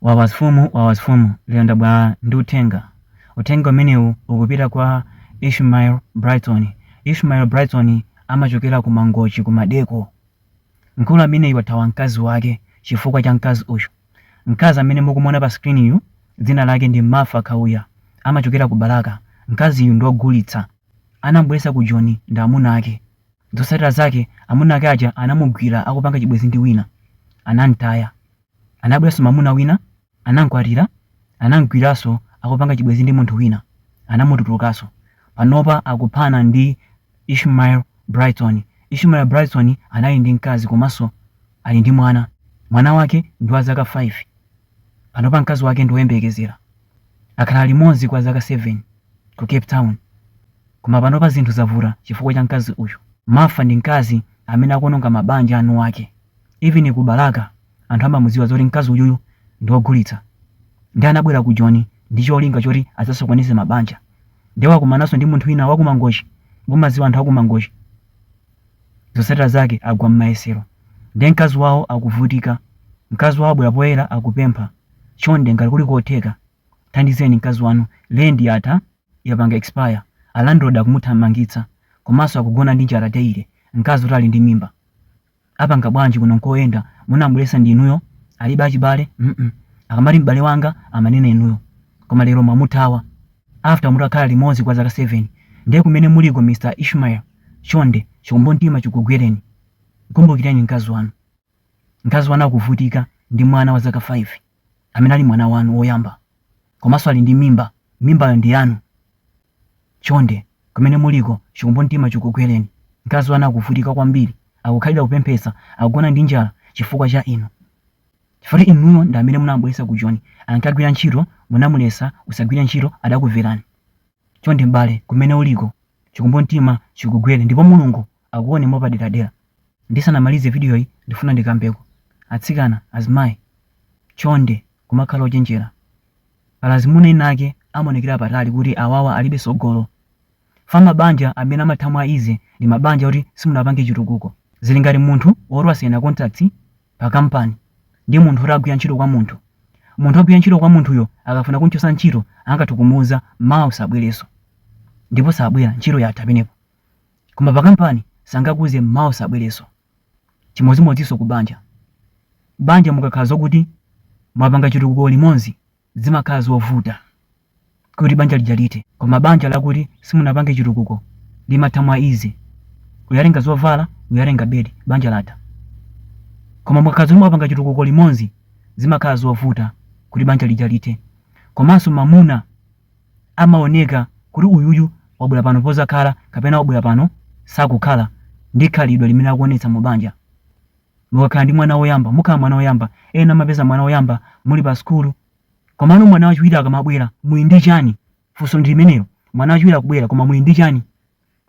Wawa mfumu Wawa mfumu lero ndabwera ndi uthenga. Uthenga umenewu ukupita kwa Ishmael Brighton. Ishmael Brighton amachokera ku Mangochi ku Maldeco. Mkulu ameneyu wathawa mkazi wake chifukwa cha mkazi uyu. Mkazi amene mukumuona pa screen yu dzina lake ndi Martha Kauya. Amachokera ku Balaka. Mkaziyu ndi wogulitsa. Anamubweretsa ku Joni ndi amuna ake. Zotsatira zake amuna ake aja anamugwira akupanga chibwenzi ndi wina. Anamtaya. Anabweranso mamuna wina anamkwatira anamgwiraso akupanga chibwezi ndi munthu wina anamutulukaso panopa akuphana ndi Ishmael Brighton Ishmael Brighton anali ndi mkazi komaso Ali ndi mwana mwana wake ndi wa zaka 5 panopa mkazi wake ndi oyembekezera akhala limodzi kwa zaka 7 Ku Cape Town koma panopa zinthu zavuta chifukwa cha mkazi uyu Martha ndi mkazi amene akuononga mabanja a eniwake. Even ku Balaka anthu amamudziwa zoti mkazi uyuyu ndi ogulitsa nde anabwera ku Joni ndi cholinga choti adzasokoneze mabanja nde wakumananso ndi munthu wina waku Mangochi mumadziwa anthu aku Mangochi zotsatira zake agwa mmayesero nde mkazi wawo akuvutika mkazi wawo wabwera poyera akupempha chonde ngati kuli kotheka thandizeni mkazi wanu rent yatha yapanga expire a landlord akumuthamangitsa komanso akugona ndi njala daily mkazi oti ali ndi mimba apanga bwanji kuno nkoyendera munamubweresa ndi inuyo alibe achibale mm akamati m'bale wanga amanena inuyo koma lero mwamuthawa after mutakhala limodzi kwa zaka 7 ndiye kumene muliko mr ishmael chonde chikumbumtima chikugwereni kumbukireni mkazi wanu mkazi wanu akuvutika ndi mwana wa zaka 5 amene ali mwana wanu woyamba komanso ali ndi mimba mimbayo ndi yanu Chonde, kumene muliko, chikumbumtima chikugwereni. Mkazi wanu akuvutika kwambiri, akukhalira kupemphetsa, akugona ndi njala chifukwa cha inu. Chifukwa inuyo ndi amene munamubweretsa ku Joni, ankagwira ntchito, munamuletsa usagwire ntchito adakumverani. Chonde m'bale, kumene uliko, chikumbumtima chikugwere ndipo Mulungu akuone mwapaderadera. Ndisanamalize vidiyoyi ndifuna ndikambeko. Atsikana, azimayi, chonde kumakhala ochenjera. Pali azimuna ena ake amaonekera apatali kuti awawa alibe sogolo. Chifukwa mabanja amene amatha mwa easy ndi mabanja oti simunapange chitukuko. Zili ngati munthu oti wasaina contract pa kampani ndi munthu oti akugwira ntchito kwa munthu. Munthu ogwira ntchito kwa munthuyo akafuna kumchotsa ntchito angathe kumuuza mawa usabwerenso ndipo sabwera ntchito yatha pamenepo. Koma pa kampani sangakuuze m'mawa usabwerenso. Chimodzimodzinso ku banja. Banja mukakhala zokuti mwapanga chitukuko limodzi zimakhala zovuta kuti banja lija lithe. Koma banja lakuti simunapange chitukuko limatha mwa easy. Uja watenga zovala, uja watenga bed, banja latha. Koma mukakhala zoti mwapanga chitukuko limodzi zimakhala zovuta kuti banja lija lithe. Komanso mamuna amaoneka kuti uyuyu wabwera pano pozakhala kapena wabwera pano sakukhala ndi khalidwe limene akuonetsa mu banja mukakhala ndi mwana woyamba mukhala mwana woyamba ena amapeza mwana woyamba muli pa sukulu komano mwana wachiwiri akamabwera muli ndi chani funso ndi limenelo mwana wachiwiri akubwera koma muli ndi chani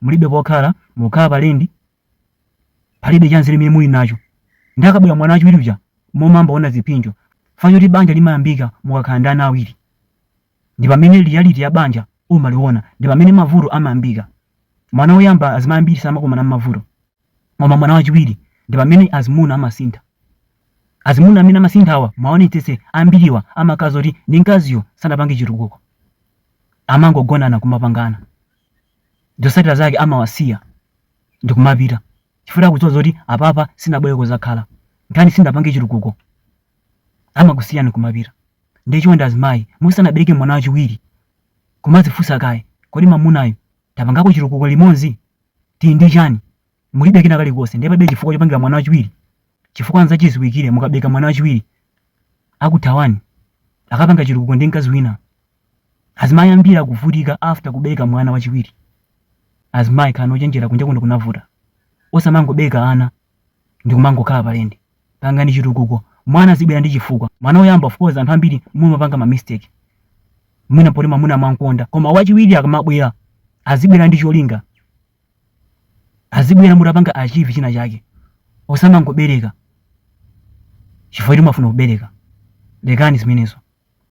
mulibe pokhala mukukhala palendi palibe chanzeru chimene muli nacho ndiye akabwera mwana wachiwiri uja mumayamba kuona zipsinjo chifukwa choti banja limayambika mukakhala ndi ana awiri ndi pamene reality ya banja umaliona ndi pamene mavuto amayambika mwana woyamba azimayi ambiri samakumana ndi mavuto koma mwana wachiwiri ndi pamene azimuna amasintha azimuna amene amasinthawa muonetsetse ambiriwa amakhala oti ndi mkaziyo sanapange chitukuko amangogonana kumapangana zotsatira zake amawasiya ndikumapita chifukwa akudziwa zoti apapa sinabwere kuzakhala ngati sinapange chitukuko amakusiyani kumapita ndiye chonde azimayi musanabereke mwana wachiwiri kumazifunsa kaye kodi mamunayu tapangako chitukuko limodzi tili ndi chani mulibe kena kalikonse ndiye palibe chifukwa chopangira mwana wachiwiri chifukwa nzachiziwikire mukabereka mwana wachiwiri akuthawani akapange chitukuko ndi mkazi wina azimayi ambiri akuvutika after kubeleka mwana wachiwiri azimayi khalani ochenjera kunja kuno kunavuta osamangobeleka ana ndikumangokhala palendi pangani chitukuko mwana azibwera ndi chifukwa mwana woyamba of course anthu ambiri mumapanga ma mistake mwina poti mwamuna amankonda koma wachiwiri akamabwera azibwera ndi cholinga azibwera mutapanga achieve china chake osamangobereka chifukwa choti mwafuna kubereka lekani zimenezo